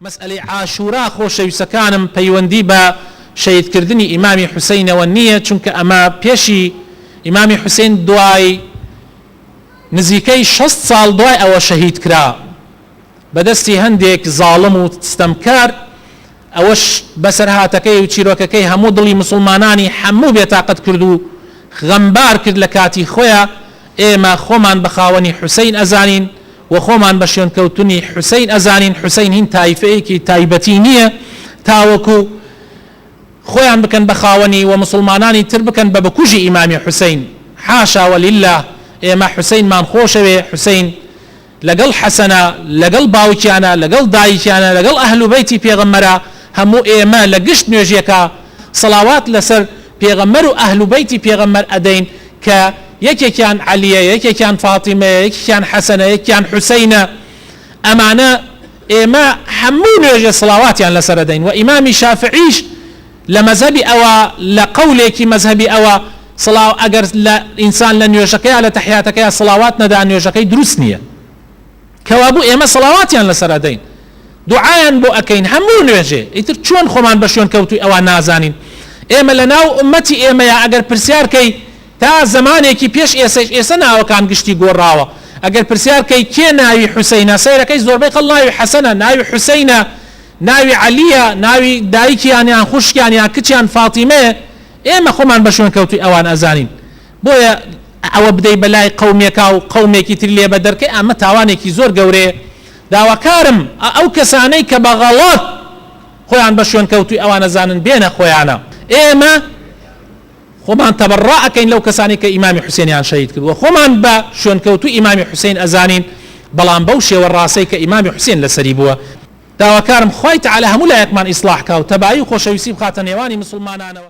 مەسئەلەی عاشورا خۆشەویسەکانم پەیوەندی بە شەهید کردنی ئیمامی حوسەینەوە نیە چونکە ئەمە پێشی ئیمامی حوسەین دوای نزیکەی شەست ساڵ دوای ئەوە شەهید کرا بەدەستی هەندێک زاڵم و ستەمکار ئەوەش بەسەرهاتەکەی و چیرۆکەکەی هەموو دڵی موسڵمانانی هەموو بێتاقەت کرد و غەمبار کرد لەکاتی خۆیا ئێمە خۆمان بەخاوەنی حوسەین ئەزانین و خۆمان بە شوێنکەوتنی حوسەین ئەزانین، حوسەین هین تایفەیەکی تایبەتی نییە تاوەکو خۆیان بکەن بە خاوەنی و موسڵمانانی تر بکەن بە بکوژی ئیمامی حوسەین، حاشا و للە، ئێمە حوسەینمان خۆشەوێ، حوسەین لەگەڵ حەسەنە، لەگەڵ باوکیانە، لەگەڵ دایکیانە، لەگەڵ ئەهل و بەیتی پێغەمبەرە، هەموو ئێمە لە گشت نوێژێکا سەڵاوات لەسەر. پێغەمبەر و ئەهل و بەیتی پێغەمبەر ئەدەین کە یەکێکیان عەلیە یەکێکیان فاتیمەیە یەکێکیان حەسەنە یەکێکیان حوسەینە ئەمانە ئێمە هەموو نوێژێ سڵاواتیان لەسەر ئەدەین وە ئیمامی شافعیش لە مەزهەبی ئەوە لە قەولێکی مەزهەبی ئەوە سڵاو ئەگەر لە ئینسان لە نوێژەکەیا لە تەحیاتەکەیا سڵاوات نەدا نوێژەکەی دروست نیە کەوابوو ئێمە سەڵاواتیان لەسەر ئەدەین دوعایان بۆ ئەکەین هەموو نوێژێ ئیتر چۆن خۆمان بە شوێن کەوتووی ئەوان نازانین ئێمە لە ناو ئومەتی ئێمەیە ئەگەر پرسیار کەی تا زەمانێکی پێش ئێسەش ئێسە ناوەکان گشتی گۆڕاوە ئەگەر پرسیار کەی کێ ناوی حوسەینە سەیرەکەی زۆربەی خەڵ ناوی حەسەنە ناوی حوسەینە ناوی عەلیە ناوی دایکیان یان خوشکیان یان کچیان فاتیمەیە ئێمە خۆمان بە شوێن کەوتووی ئەوان ئەزانین بۆیە ئەوە بدەی بەلای قەومێکا و قەومێکی تری لێ بەدەر کەی ئەمە تاوانێکی زۆر گەورەیە داواکارم ئەو کەسانەی کە بە غەڵەت خۆیان بە شوێنکەوتووی ئەوان ئەزانن بێنە خۆیانە ئێمە خۆمان تەبەڕا ئەکەین لەو کەسانی کە ئیمامی حوسێنیان شەهید کردووە خۆمان بە شوێنکەوتووی ئیمامی حوسێن ئەزانین بەڵام بەو شێوە ڕاستەی کە ئیمامی حوسێن لەسەری بووە داواکارم خوای تەعالا هەموو لایەکمان ئیسڵاح کا و تەبایی و خۆشەویستی بخاتە نێوانی مسوڵمانانەوە.